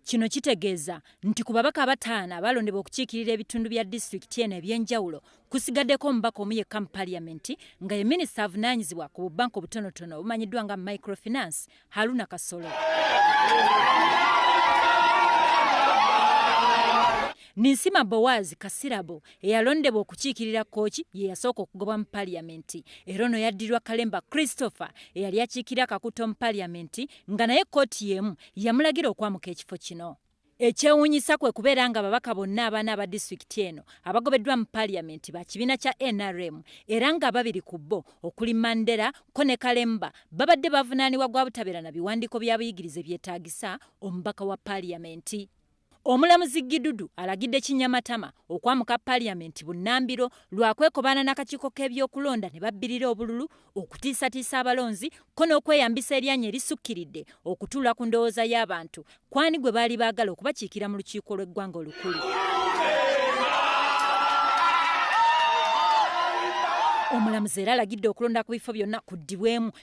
Kino kitegeeza nti ku babaka abataano abaalondebwa okukiikirira ebitundu bya disitulikiti eno eby'enjawulo kusigaddeko omubaka omu yekka mu Paliyamenti nga ye minisita avunaanyizibwa ku bubbanka obutonotono obumanyiddwa nga Microfinance, Haruna Kasolo. Ninsima Boaz Kasirabo eyalondebwa okukiikirira Kooki ye yasooka okugobwa mu Paliyamenti era ono yaddirwa Kalemba Christopher eyali akiikirira Kakuto mu Paliyamenti nga naye kkooti y'emu yamulagira okwamuka ekifo kino. Ekyewuunyisa kwe kubeera nga ababaka bonna abaana aba disitulikiti eno abagobeddwa mu paaliyamenti ba kibiina kya nrm era nga ababiri ku bo okuli Mandela ko ne Kalemba babadde bavunaanibwa gwa butabeera na biwandiiko bya buyigirize byetaagisa omubaka wa paaliyamenti. Omulamuzi Gidudu alagidde Kinyamatama okwamuka parliament bunnambiro lwa kwekobaana nakakiiko k'ebyokulonda ne babbirira obululu, okutiisatiisa abalonzi kko n'okweyambisa eryanyi erisukkiridde okutuula ku ndowooza y'abantu kw'ani gwe baali baagala okubakiikira mu lukiiko lw'eggwanga olukulu. Omulamuzi era alagidde okulonda ku bifo byonna kuddibwemu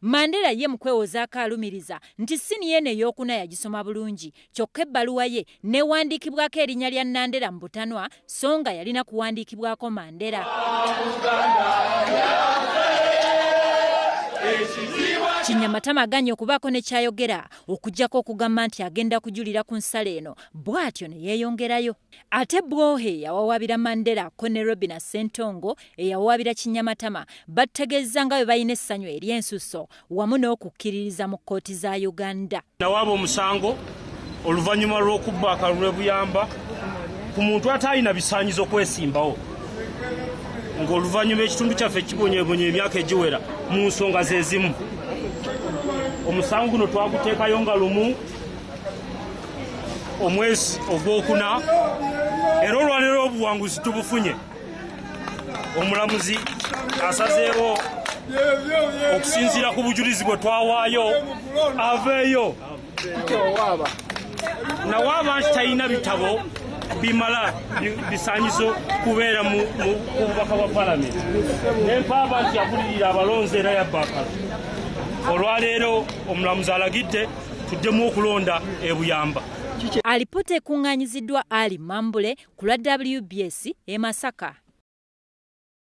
Mandela ye mu kwewozaako alumiriza nti ssiniya eno ey'okuna yagisoma bulungi kyokka ebbaluwa ye n'ewandiikibwako erinnya lya Nandera mu butanwa so nga yalina kuwandiikibwako Mandela. Kinyamatama aganye okubaako ne ky'ayogera okuggyako okugamba nti agenda kujulira ku nsala eno bw'atyo ne yeeyongerayo. Ate Bwohe eyawawaabira Mandela kko ne Robina Ssentongo eyawawaabira Kinyamatama battegeezza nga bwe balina essanyu ery'ensusso wamu n'okukkiririza mu kkooti za Uganda. Nawaaba omusango oluvanyuma lw'okubba akalulu e Buyamba ku muntu ataalina bisaanyizo kwesimbawo ng'oluvannyuma ekitundu kyaffe kibonyebonye emyaka egiwera mu nsonga ze zimu. Omusango guno twaguteekayo nga lumu. omwezi ogwokuna era olwalero obuwanguzi tubufunye omulamuzi asazeewo okusinziira ku bujulizi bwe twawaayo aveeyo nawaaba nti talina bitabo bimala bisanyizo kubeera mu bubaka bwa palamenti nempaaba nti yabulirira abalonzi era yabbakala olwaleero omulamuzi alagidde tuddemu okulonda ebuyamba alipoota ekuŋŋaanyiziddwa ali mambule ku lwa wbs e masaka